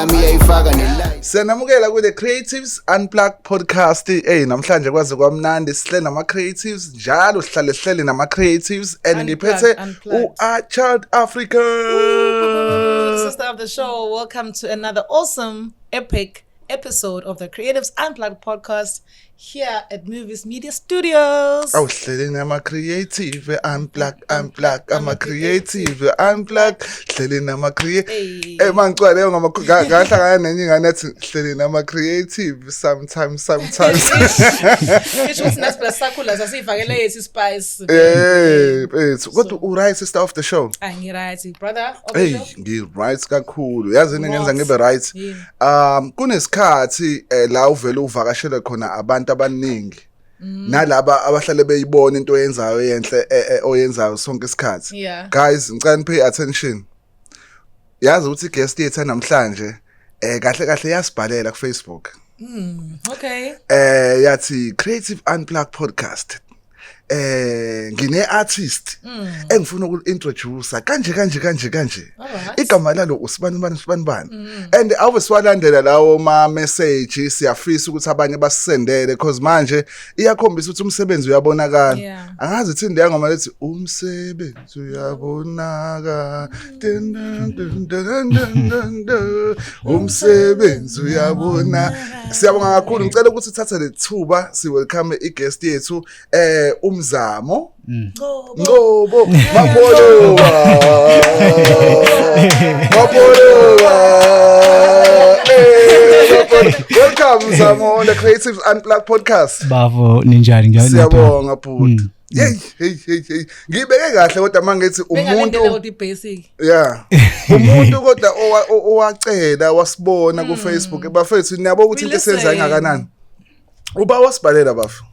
yami iyayifaka nelight Siyanamukela ku The Creatives Unplugged Podcast. Hey namhlanje kwaze kwamnandi sihle nama creatives njalo sihlale sihlele nama creatives and Unplugged, ngiphethe u unplugged. A Child Africa. Sister of the show, welcome to another awesome, epic episode of the Creatives Unplugged podcast. here at Movies Media Studios. Awuhleleni ama creative unplug unplug ama creative unplug hleleni ama creative emangcwale eh, ngama ngahlangana nenye ingane ethi hleleni ama creative sometimes sometimes Isho ukuthi nathi plus sakhula sasivakele yethu spice Eh bese kodwa u right sister of the show Angi ah, right brother of the show Hey ngi right kakhulu yazi ngenza ngibe right um kunesikhathi eh, la uvele uvakashele khona abantu abaningi mm. nalaba abahlale beyibona into oyenzayo yenhle eh, eh, oyenzayo sonke isikhathi yeah. guys ngicela nipay attention yazi ukuthi guest yethu namhlanje eh kahle kahle yasibhalela ku Facebook mm, okay eh yathi creative unplugged podcast eh ngine artist mm. engifuna uku introduce kanje kanje kanje kanje igama lalo usibani bani usibani bani mm. and awu siwalandela lawo ma message siyafisa ukuthi abanye basisendele because manje iyakhombisa ukuthi umsebenzi uyabonakala angazi ithindi yangoma lethi umsebenzi Suyabonaka umsebenzi uyabona. Siyabonga kakhulu. Ngicela ukuthi uthathe lethuba si welcome i guest yethu eh umzamo. Ngobo mabolowa. Mabolowa. Welcome Zamo on the Creatives Unplugged podcast. Bafo ninjani ngiyakuthanda. Siyabonga bhuti. Hey hey hey hey. Ngibeke kahle kodwa mangithi umuntu ukuthi basic. Yeah. Umuntu kodwa owacela wasibona ku hmm. Facebook bafethu niyabo ukuthi into esenza ingakanani. Uba wasibhalela bafo.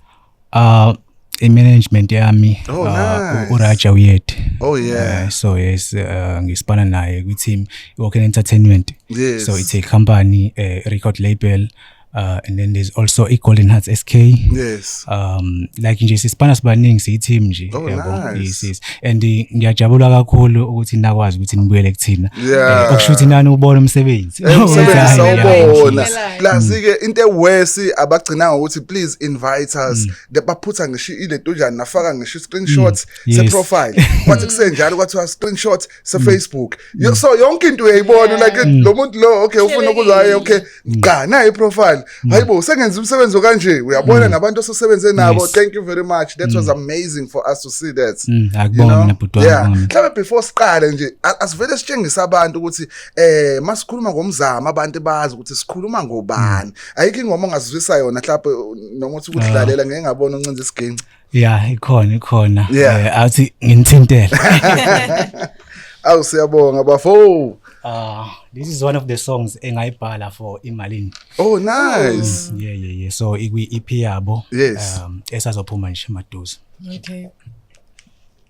Ah i-management yami oh, ah, nice. uraja uyethe oh yeah uh, so yes uh, eh, ngisibana naye kwi-team i-walk entertainment yes. so it's a company a eh, record label uh, and then there's also i-golden hearts sk yes um like nje sisipana sibaningi siyi-team nje oh, yabo nice. yes, yes. and eh, ngiyajabula kakhulu ukuthi nakwazi ukuthi nibuyele kuthina yeah. okusho ukuthi nani ubona umsebenzi eh, umsebenzi sawubona plus-ke mm. into ewesi abagcina ngokuthi please invite us mm. baphutha ngisho ile nto njani nafaka ngisho i-screenshot mm. yes. seprofile kwathi kusenjalo kwathiwa screenshot se Facebook mm. so yonke into uyayibona like mm. lo muntu lo okay ufuna ukuzwaye okay cha mm. naye profile mm. hayibo sengenza umsebenzi kanje uyabona mm. nabantu osesebenze nabo yes. thank you very much that mm. was amazing for us to see that mm. akubona mina bhuti yeah mhlawumbe before siqale nje asivele sitshengisa abantu ukuthi eh masikhuluma ngomzamo abantu bazi ukuthi sikhuluma ngobani mm. ayikho ingoma ongazizwisa yona mhlawumbe noma uthi ukudlalela ah. ngeke ngabona uncinza isiginci ya ikhona ikhona Yeah. Eh, athi nginithintele awu siyabonga bafo Ah, this is one of the songs engayibhala for imalini oh nice yeah yeah yeah so ikwi-ep yabo Yes. um, esazophuma nje maduze Okay.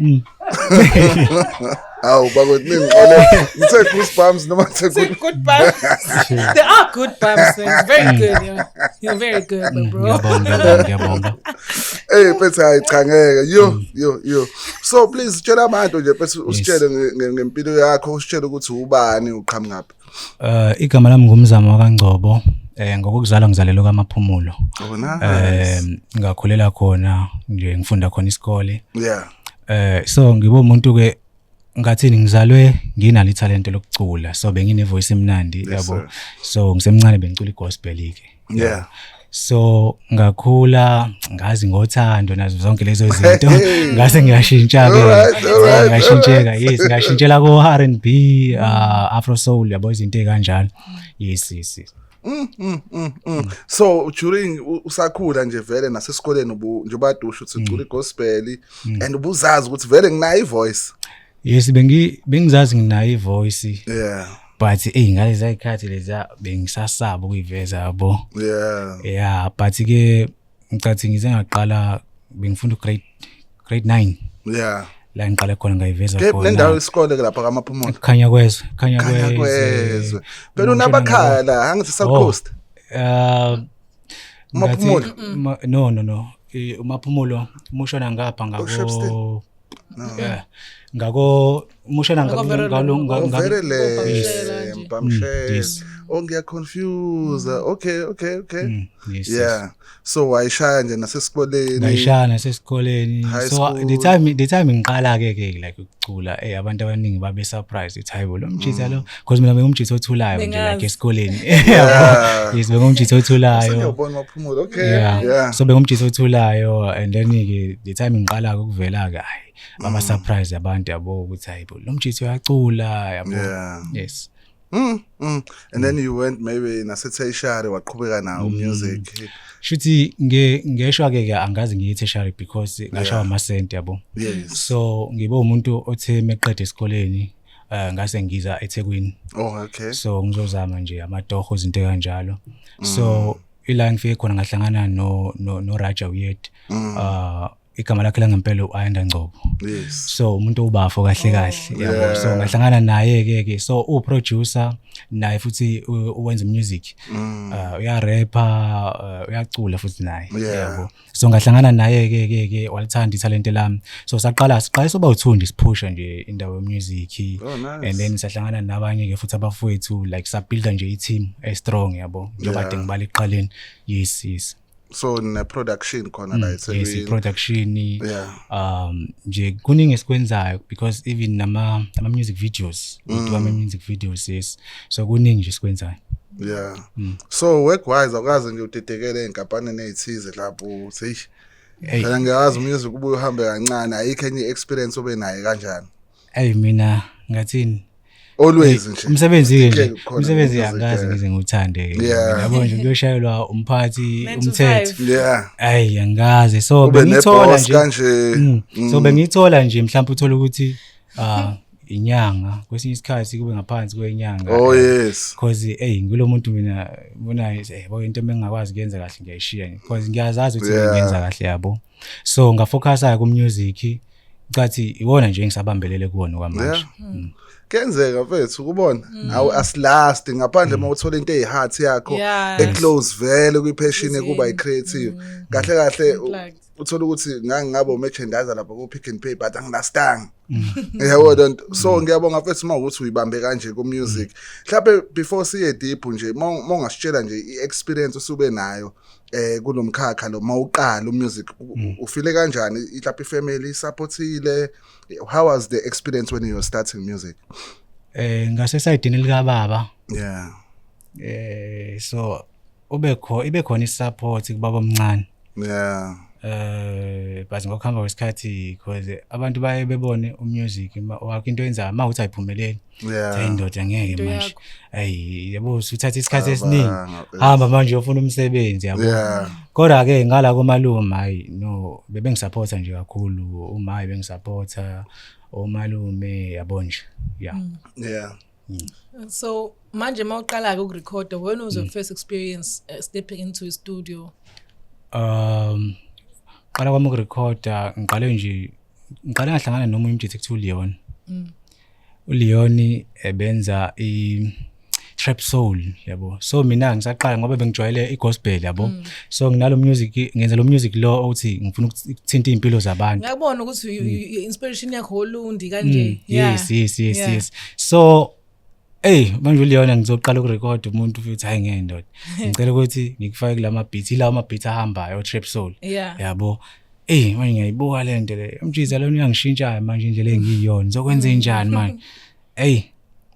Mm. Awu bakwethu ningixole. Ngithe goosebumps noma ngithe It's a good. good bumps. They are good bumps. man. It's very good. You're, you're very good, Mm, bro. Ngiyabonga, ngiyabonga, ngiyabonga. Hey phethe hayi cha ngeke. Yo Mm. yo yo. So please tshela abantu nje phethe usitshele nge- nge- ngempilo yakho, usitshele ukuthi ubani uqhamukaphi. Eh uh, igama lami ngumzamo wakangcobo eh ngokuzalwa ngizalelwe kamaphumulo. Oh nice. Eh ngakhulela khona nje ngifunda khona isikole. Yeah. Eh so ngibo umuntu ke ngathini ngizalwe nginalo ithalente lokucula so bengine voice emnandi yabo so ngisemncane bengicula igospel ke yeah so ngakhula ngazi ngothando nazo zonke lezo zinto ngase ngiyashintsha ke ngashintsheka yes ngashintshela ko R&B uh, afro soul yabo izinto ekanjalo yes yes Mm, mm, mm, mm. so during usakhula nje vele nasesikoleni njengoba dusho ukuthi ucula mm. igospel mm. and ubuzazi ukuthi vele nginayo ivoice yes bengi bengizazi nginayo ivoice yeah but eyi ngalezi ayikhathi leza bengisasaba ukuyiveza yabo yeah yeah but ke ngicathi ngize ngaqala bengifunda grade grade 9 yeah la ngiqale khona ngayiveza khona le ndawo isikole ke lapha kamaphumulo khanya kwezwe khanya kwezwe phela unabakhaya la angithi south oh, coast uh maphumulo no no no umaphumulo umushona ngapha ngabo Yeah. ngako mushela Ngako very ngalo long. ngalo- ngalo- Overele Mpamshela nje. Mm, mpamshela. yes. Oh ngiyaconfuse. Okay, okay, okay. Mm, yes, yes. Yeah. So wayishaya nje nasesikoleni. ngayishaya nasesikoleni High so school. the time the time ngiqala ke ke like ukucula eh abantu abaningi babe surprised ithi hayibo lo mjita lo because mina bengumjitha othulayo nje like esikoleni yes bengumjitha othulayo yeah so bengumjitha othulayo and then ke the time ngiqala ukuvela ke hayi ama mm. surprise abantu yabo ukuthi hayi lo mjitha uyacula yabo yes Mm, mm. And then you went maybe naseTheshari waqhubeka nawo mm. music. Shuthi nge ngeshwa ke ke angazi ngiyiTheshari because ngashawa ama cent yabo. So ngibe umuntu othe meqede esikoleni uh, ngase ngiza eThekwini oh okay so ngizozama nje amatoho izinto kanjalo mm. so ila ngifike khona ngahlangana no no, no Raja Uyed mm. uh, igama lakhe langempela u-ayanda ngcobo yes. so umuntu ubafo kahle kahle oh, yabo yeah. so ngahlangana naye ke ke so uproducer naye futhi uwenza music mm. uh, uyarapper uh, uyacula futhi naye yeah. yabo so ngahlangana naye ke ke ke walithanda ithalente lami so saqala siqala soba uthundi siphusha nje indawo yemusic oh, nice. and then sahlangana nabanye ke futhi abafowethu like sabuilda nje i-team estrong yabo njengoba yeah. ngibala ekuqaleni yes yes so ne production khona la mm, yes i production yeah um nje kuningi esikwenzayo because even nama ama music videos mm. we do ama mm. music videos yes so kuningi nje sikwenzayo yeah mm. so work wise awukaze nje udidekele enkampanini ezithize lapho seyish hey. phela ngiyazi umusic ubuye uhambe kancane ayikho enye experience obe naye kanjani hey mina ngathini always nje umsebenzi nje umsebenzi angazi ngize ngithande ke yabo nje kuyoshayelwa umphathi umthetho yeah ayi angazi so bengithola nje mm. so mm. bengithola nje mhlawumbe uthola ukuthi ah inyanga kwesinye isikhathi kube ngaphansi kwenyanga oh yes because hey ngilo muntu mina bona hey bo into engingakwazi kuyenza kahle ngiyayishiya because ngiyazazi ukuthi yeah. ngiyenza kahle yabo so ngafocusa ku music cathi iwona nje engisabambelele kuwona kwamanje yeah. mm. kenzeka mfethu ukubona mm. awu asilast ngaphandle uma mm. uthola into eyiheart yakho eclose vele kwipheshini kuba icreative mm. kahle kahle uthola ukuthi ngangingabo merchandiser lapha ku pick and pay but anginastang yabo don't so mm. ngiyabonga mfethu uma ukuthi uyibambe kanje ku music mhlawumbe before siye deep nje mongasitshela nje i experience usube nayo eh kulomkhakha lo mawuqala umusic mm. ufile kanjani mhlawumbe family supportile how was the experience when you were starting music eh ngase side lika baba yeah eh so ube kho ibe khona isupport kubaba omncane yeah eh but ngokuhamba kwesikhathi because abantu baye bebone umusic wakho into yenza uma uthi ayiphumeleli yeah indoda ngeke manje ayi yabo usuthatha isikhathi esiningi hamba manje uyofuna umsebenzi yabo kodwa ke ngala komalume hayi no bebengisupporta nje kakhulu uma bengisupporta omalume yabo nje yeah mm. yeah Mm. So manje uma uqala-ke ukurekhoda when was your mm. first experience uh, stepping into a studio? Um qala kwami ukurekhoda ngiqale nje ngiqale ngahlangana nomunye umjitha kuthiwa uLeon. Mm. uLeon ebenza i trap soul yabo so mina ngisaqala ngoba bengijwayele igospel yabo mm. so nginalo music ngenza lo music lo othi ngifuna ukuthinta impilo zabantu ngiyabona ukuthi mm. inspiration yakho olundi kanje mm. yes yes yes yes so Ey manje uLeona ngizoqala ukurecord umuntu futhi hayi ngeke ndoda. Ngicela ukuthi ngikufake kulama beat ila ama beat ahambayo Trap Soul. Yabo. Ey manje ngiyayibuka le nto le. Umjiza lona uyangishintsha manje indlela engiyiyona. Ngizokwenza enjani manje? Ey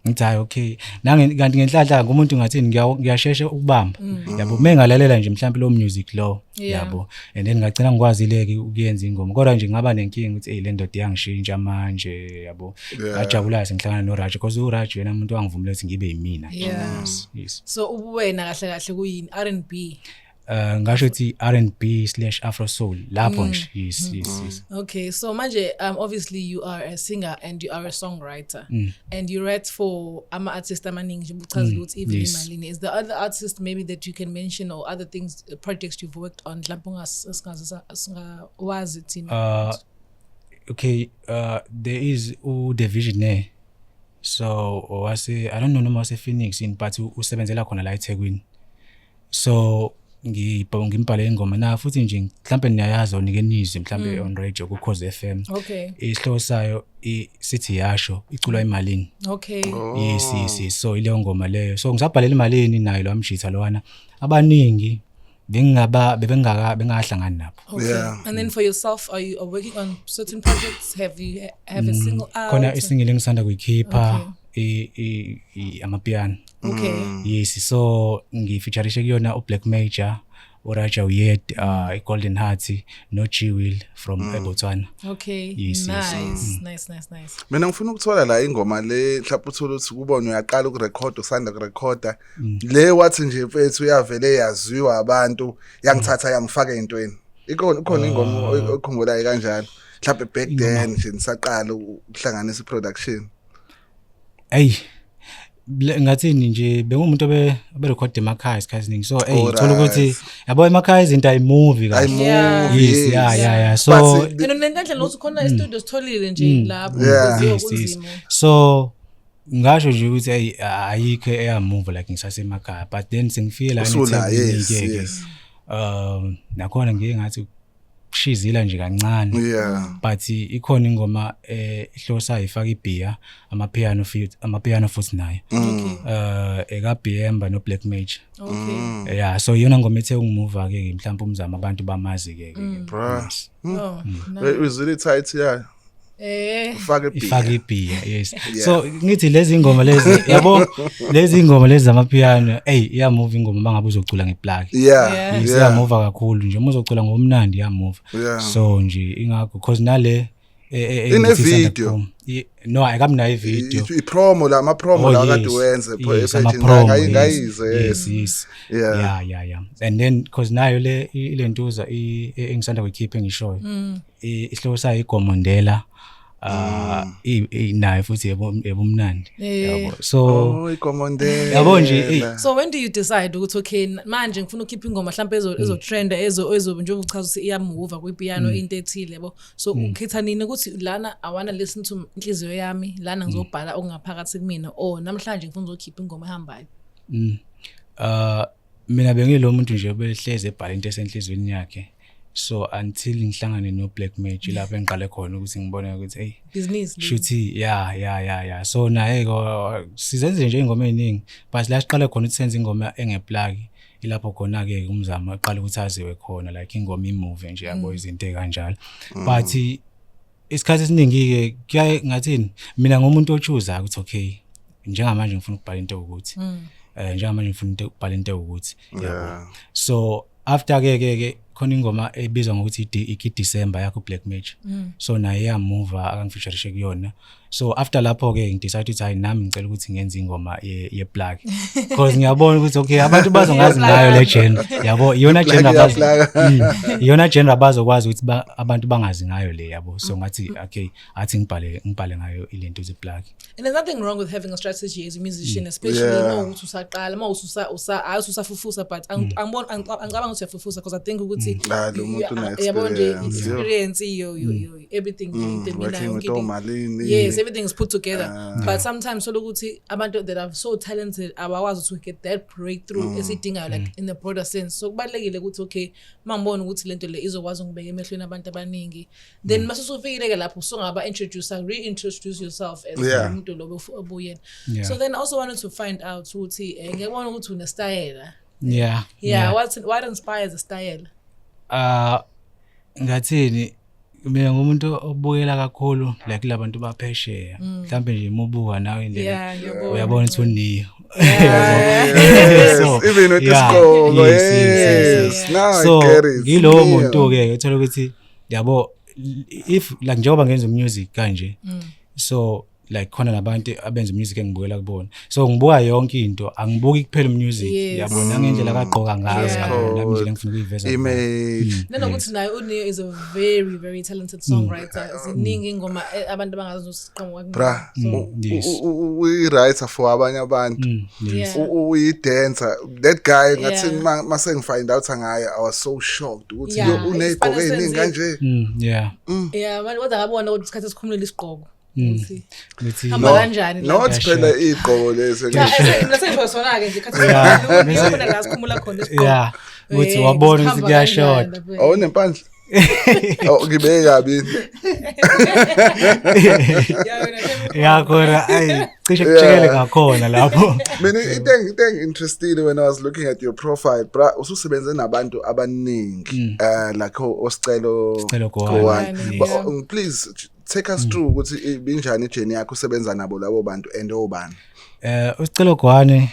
ngithi hayi okay nange kanti ngenhlanhla umuntu ngathini ngiyashesha ukubamba mm. yabo mengalela nje mhlawumbe lo music lo yabo and then ngagcina ngikwazile-ke ukuyenza ingoma kodwa nje ngaba nenkinga ukuthi eyi le ndoda iyangishintsha manje yabo ngajabula-ke sengihlangana noraj because uraj yena muntu wangivumela ukuthi ngibe yimina yes, yes. so ubuwena kahle kahle kuyini r and b Uh, ngasho ukuthi R&B slash Afro soul lapho mm. nje yes mm. yes yes okay so manje um obviously you are a singer and you are a songwriter mm. and you write for ama artists amaningi nje uchaza ukuthi even imalini is the other artist maybe that you can mention or other things projects you've worked on mhlawumbe ungawazi thina uh, okay uh, there is udevisionaire so wase i don't know noma wasephoenix in but usebenzela khona la ethekwini so ngimbhale ingoma na futhi nje mhlambe niyayazi onike nizwe mhlambe mm. on radio ku Cause FM okay isihloko sayo sithi yasho iculwa mm. emalini okay yes yes so ile ngoma leyo so ngisabhalela imalini nayo lo amjitha lowana abaningi bengingaba bebengaka bengahlangani nabo Okay. Yeah. And then for yourself, are you are working on certain projects? Have you have a single out? khona isingile engisanda kuyikhipha i- i- i- amapiano Okay. yes so ngifeaturishe kuyona ublack major uraja uyed uh, i-golden heart no-g will from mm. ebotswana Okay. Yes, yes. nice, nice, nice, nice. mina ngifuna ukuthola la ingoma le mhlawumbe uthole ukuthi kubona uyaqala ukurekhoda usanda kurekhoda Mm. le wathi nje mfethu yavele yaziwa abantu yangithatha yangifaka entweni ikona ukhona ingoma oy- okhumbulayo kanjalo mhlawumbe back then nje nisaqala ukuhlanganisa i-production eyi le- ngathini nje bengumuntu obe- oberekhode emakhaya isikhathi esiningi so eyi Alright. thola ukuthi yabo emakhaya izinto ayimuvi I kahle move Yeah. yes yes. yeah yeah yeah so But- and then nendlela nokuthi khona e-studio sitholile nje lapho Yeah. kuziwa yes yes kunzima so ngasho nje ukuthi ayi ayikho eyamuva like ngisasemakhaya but then sengifike la ngithengike um nakhona ngiye ngathi kushizila nje kancane but ikhona ingoma eh, ehlosa ifaka ibhiya ama piano futhi ama piano futhi naye mm. eh eka Bemba no Black Mage okay mm. yeah so yona ngoma ethe ungimuva ke mhlawumbe umzama abantu bamazi ke ke mm. bro oh, is it tight yeah Eh ufake beer. Ifake ibhiya yes. Yeah. So ngithi lezi ngoma lezi yabo lezi ngoma lezi zama piano hey iya move ingoma mangabe uzocula ngeplug. Yeah. Yeah. Iya move kakhulu nje uma uzocula ngomnandi iya move. Yeah. So nje ingakho because nale eh, eh, eh, ine video no akamnayo ivideo ipromo la mapromo oh, la kade wenze page ngayizwe yes yes yeah yeah yeah and then because nayo le ilentuza engisanda kuyikhipha engishoyo mm. I- isihloko sayo igomondela ah, i- i- nayo futhi yebo- yebumnandi Eh. yabo so Oh, ikomondela. yabo nje eyi, so when do you decide ukuthi okay n- manje ngifuna ukukhipha ingoma mhlawumbe ezo- ezotrenda ezo ezo njengoba uchaza ukuthi iyamuva kwipiano into ethile yabo so ukhetha nini ukuthi lana i wanna listen to inhliziyo yami lana ngizobhala okungaphakathi kumina or namhlanje ngifuna uzokhipha ingoma ehambayo mm, ah, mina bengilo muntu nje obehlezi ebhala into esenhlizweni yakhe so until ngihlangane no black magic mm. lapho engiqale khona ukuthi ngibone ukuthi hey business shuthi ya ya ya ya so naye sizenze nje ingoma eziningi but la siqale khona ukuthi senze ingoma engeplaki ilapho khona ke umzamo aqala ukuthi aziwe khona like ingoma imove nje yabo mm. izinto kanjalo mm. but isikhathi esiningi-ke kuyaye ngathini mina ngomuntu otshuzayo ukuthi okay njengamanje ngifuna ukubhala into ukuthi um mm. eh, njengamanje ngifuna ukubhala into ukuthi so after ke ke ke khona ingoma ebizwa ngokuthi iki December yakho Black Magic mm. so naye yamuva akangifeatureishe kuyona so after lapho ke ngidecide ukuthi hayi nami ngicela ukuthi ngenze ingoma ye, ye black because ngiyabona ukuthi okay abantu bazongazi ngayo le gender yabo iyona gender bazo mm, iyona gender bazokwazi ukuthi ba, abantu bangazi ngayo le yabo so ngathi okay athi ngibhale ngibhale ngayo ilento ze black and there's nothing wrong with having a strategy as a musician mm. especially yeah. uma ukuthi usaqala uma ususa usa ayi usafufusa but mm. angibona angicabanga ukuthi uyafufusa because i think ukuthi mm. yabo nje experience iyo iyo everything mm, mina yes everything is put together uh, but sometimes solo ukuthi abantu that are so talented abakwazi to get that breakthrough mm, esidingayo like mm. in the broader sense so kubalekile ukuthi okay mangibona ukuthi lento le izokwazi ukubeka emehlweni abantu abaningi then mm. masusufikile ke lapho sungaba introduce reintroduce yourself as yeah. umuntu lobo obuyena yeah. so then I also wanted to find out ukuthi eh, ngiyabona ukuthi une style yeah yeah, yeah. what what inspires the style uh ngathini mina ngumuntu obukela kakhulu like labantu baphesheya mm. mhlambe nje imubuka nawe indlela uyabona ukuthi uniyo even with isikolo yes now so ngilowo muntu ke uthola ukuthi yabo if like njengoba ngenza music kanje mm. so like khona nabantu abenza music engibukela kubona so ngibuka yonke into angibuki kuphela music Yes. yabona ngendlela akagqoka ngayo Yes. yabona ngendlela engifuna ukuyiveza ngayo. image Mm. nanokuthi naye uneo is a very very talented songwriter ziningi ingoma eh, abantu abangazoziqoma bra Mm, u- yes. u- u- uyi-writer for abanye abantu Mm, yes. Yeah. U- uyi-dancer that guy ngathi Yeah. ma- ma sengifind out ngaye i was so shocked ukuthi Yeah, yo uneyigqoko isibalo ey'ningi senze- kanje Mm, yeah. yeah manje kodwa ngabona ukuthi isikhathi esikhumulile isigqoko Mm. ukuthi hamba No. kanjani la? not Yasho. phela igqoko lesi Cha, Yasho. eh, mina sengisho sona-ke nje khathi Yeah. sikhona, Mese- khona la sikhumula khona isigqoko. ya ukuthi Eh, wabona ukuthi sihamba kuyashoda kanjani lapha. awunempandla Oh, ngibeke kabi Ya, wena, shem- yakhona ayi cishe Yeah. kujikele ngakhona lapho mina into engi- into engi-interestile when i was looking at your profile bra ususebenze nabantu abaningi um like o- osicelo Sicelo Gowani. Gowani. Gowani, But, yeah. um, please take us through ukuthi ibinjani ijeni yakho usebenza nabo labo bantu and obani eh usicelo gwane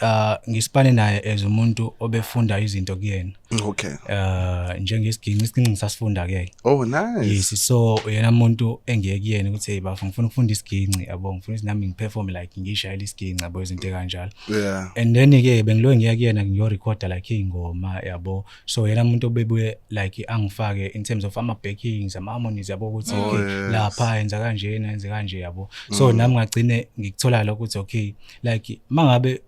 uh ngisipane naye as umuntu obefunda izinto kuyena okay uh njengesiginci isiginci sasifunda ke oh nice yes so uyena umuntu engiye kuyena ukuthi hey bafo ngifuna ukufunda isiginci yabo ngifuna nami ngiperform like ngishayela isiginci yabo izinto kanjalo yeah and then ke bengiloyo ngiya kuyena ngiyo recorder like ingoma yabo so yena umuntu obebuye like angifake in terms of ama backings ama harmonies yabo ukuthi oh, okay yes. lapha yenza kanje yenza kanje yabo so mm. nami ngagcine ngikuthola lokho ukuthi okay like mangabe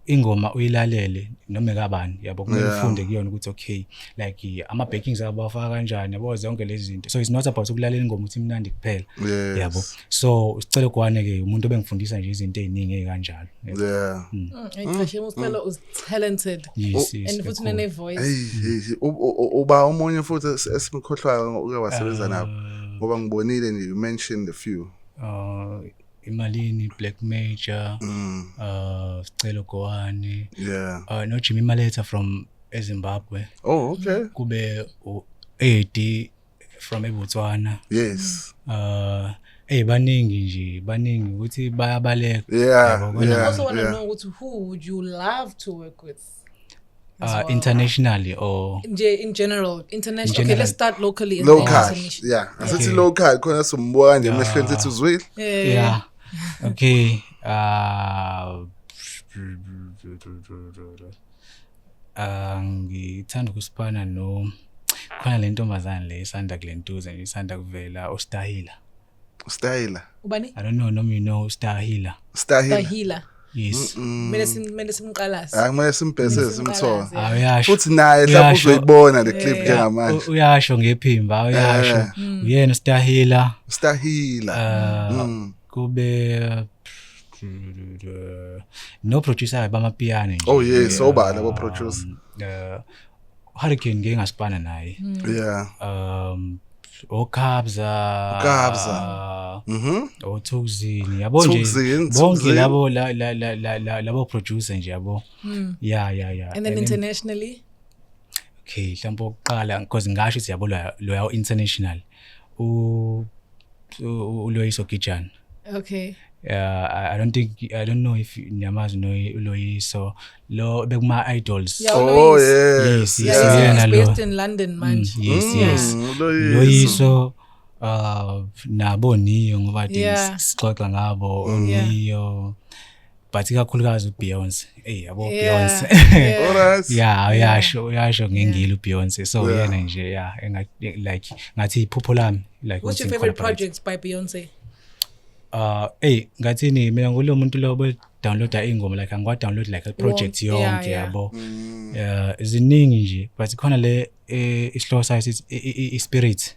ingoma uyilalele noma ekabani yabo kumele yeah. ufunde kuyona ukuthi okay like ama backings abo bafaka kanjani yabo zonke lezi zinto so it's not about ukulalela ingoma uthi imnandi kuphela yes. yabo so usicelo kwane ke umuntu obengifundisa nje izinto eziningi ezikanjalo yeah mm. mm. mm. talented yes, yes, and futhi nene voice uba omunye futhi esimkhohlwayo uke wasebenza nabo ah. ngoba ngibonile nje you mentioned a few uh, imalini black major mm. uh, sicelo gowane yeah. uh, no jimmy maletha from ezimbabwe oh okay kube u-edi from eBotswana yes uh hey baningi nje baningi ukuthi bayabaleka yeah, yeah, also want to yeah. know ukuthi who would you love to work with uh, well. internationally or nje in general international okay let's start locally and local yeah asithi okay. local khona sombuka kanje ah. emehlweni sithi uzwile yeah okay uh Ah, ngithanda ukusiphana no khona le ntombazane le isanda kule ntuze nje isanda kuvela ustahila Style. ubani i don't know noma you know ustahila Style. tahila yes kumele sim- kumele simqalaze Hayi kumele simbhesele simthola. Simqalaze. Ah, uyasho Futhi naye mhlawumbe Uyasho. uzoyibona le clip Yeah. njengamanje. U- uyasho ngephimba uyasho Eh. uyena ustahila Stahila. ah, Mm. kube no producer bama piano nje oh yes so ba labo producer um, uh, hurricane ngeke ngasipana naye hmm. yeah um okhabza okhabza uh, mhm othukuzini yabo nje bonke labo labo producer nje yabo hmm. yeah yeah yeah and then internationally okay mhlawumbe oqala because ngasho ukuthi yabo loya international u uloyiso gijana okay uh, I don't think I don't know if niyamazi no Loyiso lo bekuma idols yeah, oh yes yes, yes, yes, yes. based in London mm, manje mm, yes yes mm, Loyiso uh nabo niyo ngoba yeah. sixoxa ngabo mm. niyo yeah. but ikakhulukazi uBeyonce hey yabo yeah, Beyonce yeah. yeah uyasho uyasho ngengile uBeyonce so yeah. yena nje yeah like ngathi iphupho lami like what's your favorite projects by Beyonce uh hey ngathini mina ngulo muntu lobo downloada ingoma like angiwa download like a project yonke yabo mm. uh ziningi nje but khona le eh, isihloko sayo i spirit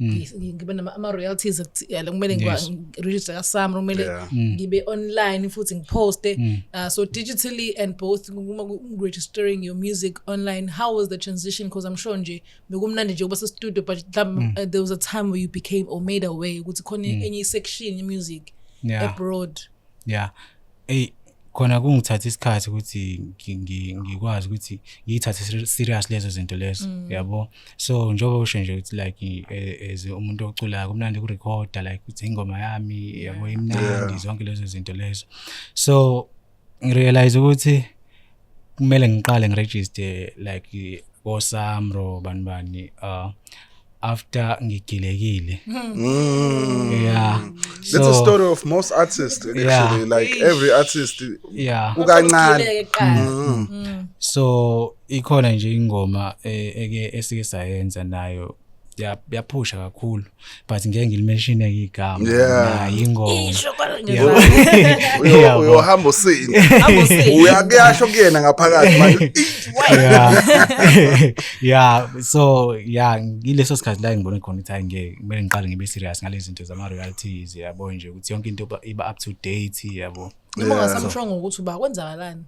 Mm. ngibe ama-royalties yala kumele ngiregister kasam kumele mm. ngibe online futhi ngiposte mm. uh, so digitally and both registering your music online how was the transition because i'm sure nje bekumnandi nje ukuba sestudio but uh, there was a time where you became or made away ukuthi khona enye isection yemusic abroad ya eyi khona kungithatha isikhathi ukuthi ngikwazi ukuthi ngiyithathe serious lezo zinto lezo mm. yabo so njengoba usho nje ukuthi like e, as umuntu oculayo kumnandi ukurecorda like ukuthi ingoma yami yabo imnandi zonke lezo zinto lezo so ngirealize ukuthi kumele ngiqale ngiregister like kosamro bani bani uh, after ngigilekile mm. yeah so, that's a story of most artists actually yeah. like every artist yeah ukancane mm. mm. so ikhona nje ingoma e, eke esike sayenza nayo yaphusha kakhulu but ngeke ngilimeshine igama yeah ingoma uyohamba usini uyakuyasho kuyena ngaphakathi manje yeah so yeah ngileso sikhathi la ngibone khona ukuthi ngeke kumele ngiqale ngibe serious ngale zinto zama realities yabo nje ukuthi yonke into iba up to date yabo noma ngasamshongo ukuthi uba kwenzakalani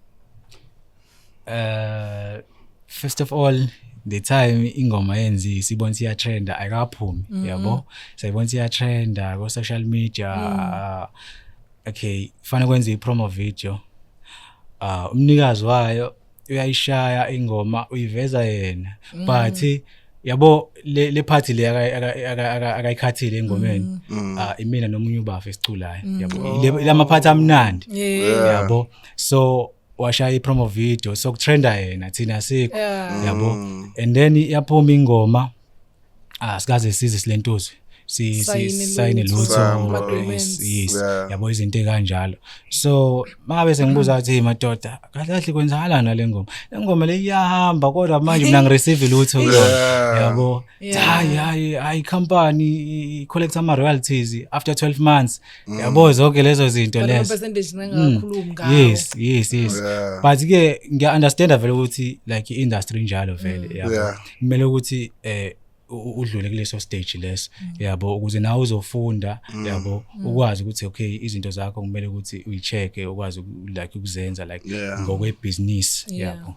Uh, first of all the time ingoma yenzi sibona siya trend ayikaphumi mm -hmm. yabo sayibona siya trend ko social media mm. okay fana kwenza i promo video uh umnikazi wayo uyayishaya ingoma uyiveza yena mm. but mm. yabo le le party le akayikhathile engomeni mm. Mm. ah imina nomunye ubafa esiculayo mm. yabo lama party amnandi yabo so washaya i-promo video sokutrenda yena thina sikho Yeah. yabo Mm. and then yaphuma ingoma ah sikaze size silentuzwe si si- Sayine sayine lutho, lutho Samba. Madumens. yes, yes Yeah. yabo izinto ekanjalo so mangabe sengibuza ukuthi "Hey, madoda kahle kahle kwenzakalani nale ngoma le ngoma le iyahamba kodwa manje mina ngireceive lutho kuyona Yeah. yabo Yeah. hayi hayi hayi company i- i- collects ama royalties after 12 months Mm. yabo zonke lezo zinto Kanti lezo ama-percentage ncane Mm. kakhulumi ngawo. yes yes yes Yeah. but ke ngiya-understanda vele ukuthi like i-industry injalo vele yabo Yeah. kumele ukuthi eh u- u- udlule kuleso stage leso yabo ukuze nawe uzofunda yabo ukwazi ukuthi okay izinto zakho kumele ukuthi uyi-check-e ukwazi uku- like ukuzenza like Yeah. ngokwebhizinisi Yeah. yabo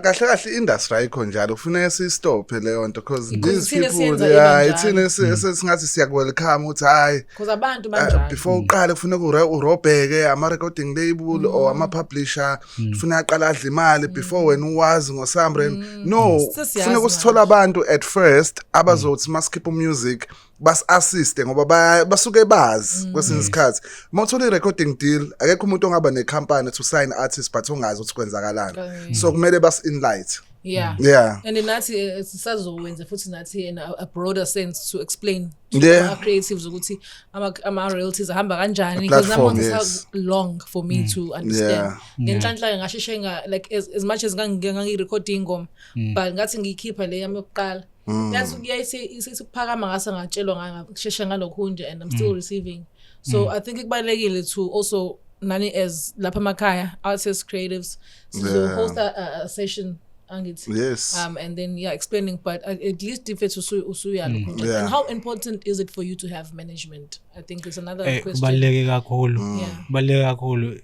kahle kahle industry ayikho njalo kufuneka sistophe leyo nto because these people yeah ithina mm. singathi siya welcome uthi hayi because abantu ah, banjalo before mm. uqale kufuneka urobheke ama recording label or mm. ama publisher kufuneka aqala adle imali before wena uwazi ngo Samren no kufuneka usithola abantu at first abazothi masikhipha music basi-assiste ngoba ba- basuke bazi kwesinye isikhathi uma uthola i-recording deal akekho umuntu ongaba nekhampani to sign artist but ongazi ukuthi kwenzakalani Right. so kumele basi-inlight yeah yeah and nathi eh, sisazowenza futhi nathi in a, a broader sense to explain to Yeah. our creatives ukuthi ama- ama-royalties ahamba kanjani because that platform, one is how yes. Mm. long for me to understand Yeah. ngenhlanhla-ke ngasheshe nga like as, as much as ngangi- ngangiyi-rekhode ingoma Mm. but ngathi ngiyikhipha le yami yokuqala Mm. Yazi kuyaye sikuphakama ngase ngatshelwa ngasheshe ngalokho nje and I'm still mm. receiving. So mm. I think kubalekile to also nani as lapha emakhaya artists creatives sizo yeah. host a, a session angithi yes um and then yeah explaining but uh, at least if it's usuya mm. yeah. and how important is it for you to have management I think it's another eh, question. Kubaluleke kakhulu. Mm. Yeah. Kubaluleke kakhulu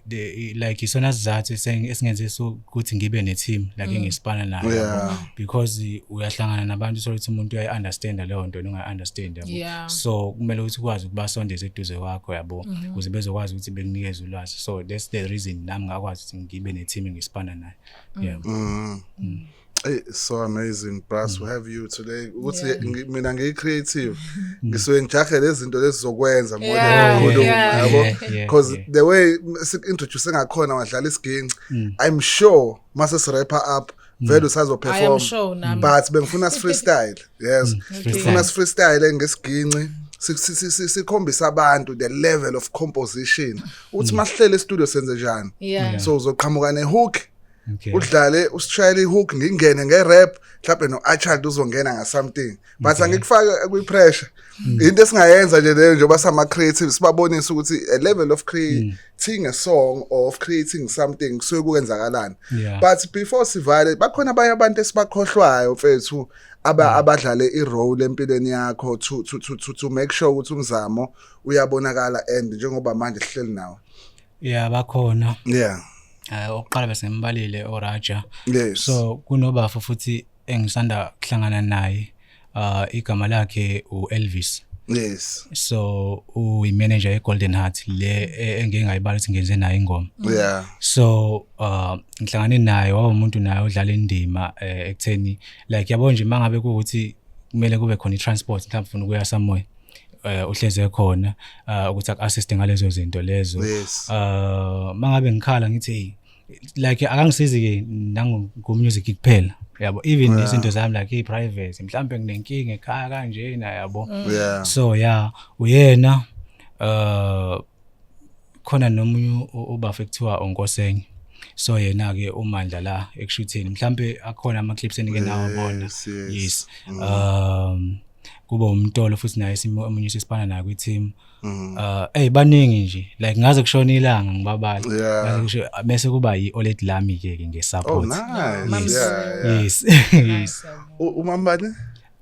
like isona sizathu esingenze so ukuthi ngibe ne team like mm. ngisipana nayo. Yeah. Because uyahlangana nabantu so ukuthi umuntu uyayi understand leyo nto unga understand yabo. Yeah. So kumele ukuthi ukwazi ukubasondeza eduze kwakho yabo mm-hmm. ukuze mm -hmm. bezokwazi ukuthi bekunikeze ulwazi. So that's the reason nami ngakwazi ukuthi ngibe ne team ngisipana nayo. Mm. Yeah. Mm. Mm. Hey, so amazing brass we have you today ukuthi Yeah. ngi- mina ngiyi creative ngisuke ngijahe lezinto lezizokwenza more Yeah, than ukukhuluma yeah. yabo Yeah, yeah, because yeah. the way sikuintroduce ngakhona wadlala isiginci Mm. i'm sure mase sirapper up vele I am usazoperform sure nami. but bengifuna si-freestyle yes Mm. Okay. ngifuna si-freestyle ngesiginci si- si- si- si- sikhombise abantu the level of composition ukuthi Mm. masihlele estudio senze njani Yeah. so uzoqhamuka nehook Okay. Udlale usishayela ihook ngingene ngerap mhlawumbe noAchard uzongena nga something but okay. angikufake kwi pressure mm. into esingayenza nje leyo njengoba sama creative sibabonisa ukuthi a level of creating mm. a song or of creating something kusuke kwenzakalani yeah. but before sivale bakhona abanye abantu esibakhohlwayo mfethu aba mm. abadlale irole empilweni yakho to to to to make sure ukuthi umzamo uyabonakala and njengoba manje sihleli nawo Yeah bakhona. Yeah. Eh oqala bese ngimbalile oRaja. Yes. So kunobafo futhi engisanda kuhlangana naye uh igama lakhe uElvis. Yes. So uyi manager eGolden Heart le e, engeke ngayibala ukuthi ngenze naye ingoma. Yeah. So uh ngihlangane naye wawumuntu naye odlala indima eh, ekutheni like yabo nje mangabe ukuthi kumele kube khona i-transport mhlawumbe ufuna ukuya somewhere eh uhleze khona ah, ukuthi aku assist ngalezo zinto lezo Yes. ah mangabe ngikhala ngithi hey like akangisizi ke nangu ku music kuphela yabo even Yeah. izinto zami like i private mhlambe nginenkinga ekhaya kanje na yabo Yeah. so yeah uyena uh khona nomunye ubafo ekuthiwa uNkosenye so yena ke umandla la ekushutheni mhlambe akhona ama clips enike nawo bona yes mm. um kuba umtolo futhi naye simo omunye sisibana naye kwi team mm. uh hey baningi nje like ngaze kushona ilanga ngibabala ngaze kusho bese kuba yi Olet Lami ke ke nge support oh, yes yes umambane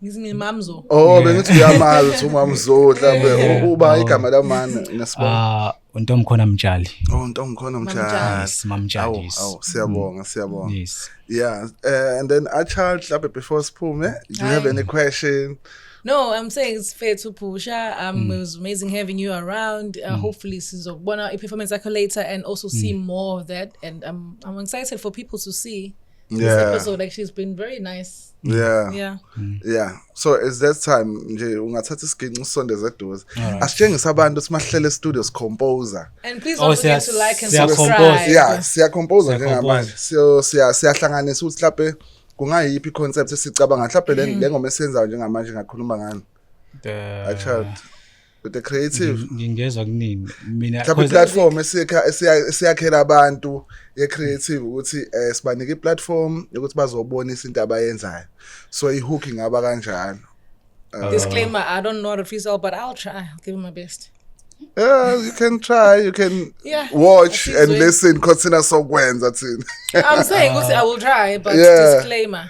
Ngithi mina mamzo. Oh bengithi uyamazi ukuthi umamzo mhlambe uba igama lamani ngesibona. Ah untomkhona mtshali. Oh untomkhona mtshali. Yes mamtshali. Awu awu siyabonga siyabonga. Yes. Yeah uh, and then a child mhlambe before siphume do you have any question? No, I'm saying it's fair to Pusha. Um, mm. It was amazing having you around. Uh, mm. Hopefully, Sizobona, a performance accolade, and also see mm. more of that. And I'm, I'm excited for people to see this Yeah. episode actually has been very nice. yeah Yeah. yeah so it's that time nje ungathatha isiginci usondeze eduze Alright. asitshengise abantu simahlele estudio sicomposer And please Oh, don't forget siya- to like and siya compose. subscribe. yeah siyacomposa Siya njengamanje compose. siyo siya siyahlanganisa ukuthi mhlawumbe kungayiphi i-concept esicabanga mhlawumbe le- le ngoma esiyenzayo njengamanje ngakhuluma ngani The- a child with the creative Ngi- ngingezwa kuningi mina mhlawumbe cause- i-platform esiyakha- esiya- esiyakhela abantu ye-creative ukuthi um sibanike i-platform yokuthi bazobonisa into abayenzayo so i-hook ingaba kanjalo Uh, Disclaimer, I don't know how to freestyle, but I'll try. I'll give it my best. Yeah, you can try, you can Yeah, watch that's and it. listen, consider sokwenza thina. I'm saying, also, I will try, but Yeah. disclaimer.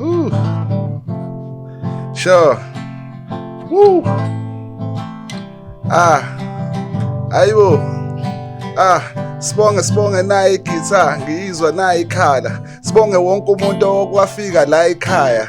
Ooh. Sure. Woo. Ah. Ayibo. Ah. Sibonge sibonge nayi igitha ngiyizwa nayi ikhala. Sibonge wonke umuntu okwafika la ekhaya.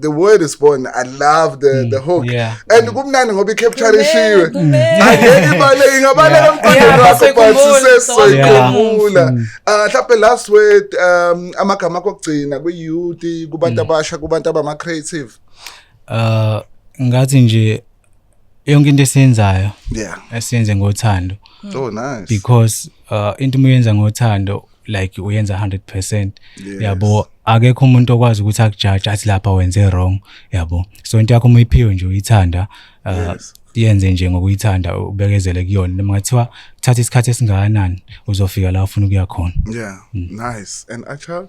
the word is born i love the mm, the hook yeah, and mm. kumnandi ngoba i-capture ishiwe angeke ibaleke ingabaleka emqondweni wakho but sisesoyikhumbula um mm. uh, last word um amagama akho okugcina kwi-youth kubantu abasha kubantu abama-creative uh ngathi nje yonke into esiyenzayo yeah esiyenze ngothando oh nice because uh, into uma uyenza ngothando like uyenza 100% Yes. yabo akekho umuntu okwazi ukuthi akujaje athi lapha wenze wrong yabo so into yakho uma uyiphiwe nje uyithanda uh, Yes. yenze nje ngokuyithanda ubekezele kuyona noma ngathiwa thatha isikhathi esingakanani uzofika la ufuna ukuya khona yeah nice and a child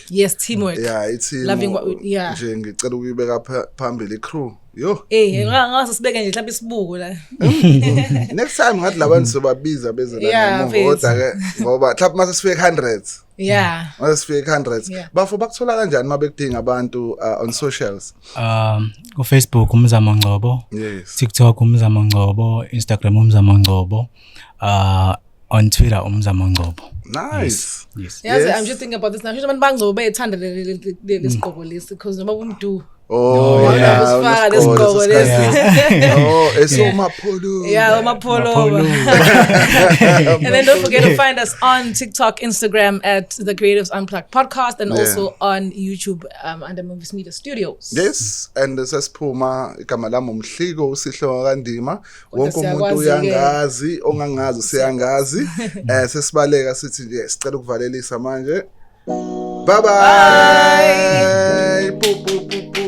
teamwork yes teamwork yeah it's loving what we, yeah nje ngicela ukuyibeka phambili crew yo eh ngase sibeke nje mhlawumbe isibuko la next time ngathi labantu sobabiza beze la ngoda ke ngoba mhlawumbe mase sifike 100 yeah mase sifike 100 bafo bakuthola kanjani mabekudinga abantu uh, on socials um ku Facebook umzamo ngcobo yes TikTok umzamo ngcobo Instagram umzamo ngcobo uh on Twitter uMzamo Ngcobo nice yes yes i'm just thinking about this now abantu bangcobo bayethanda lesigqoko mm. lesi because noma kumdu Oh, oh yeah, usifaka lesigqoko lesi. Oh, esomapholo. Yeah, umapholo. And then don't forget to find us on TikTok, Instagram at the Creatives Unplugged podcast and yeah. also on YouTube um, under Movies Media Studios. Yes, and sesiphuma igama lami uMhliko uSihlo kaNdima wonke umuntu uyangazi ongangazi useyangazi eh sesibaleka sithi nje sicela ukuvalelisa manje bye bye pu pu pu pu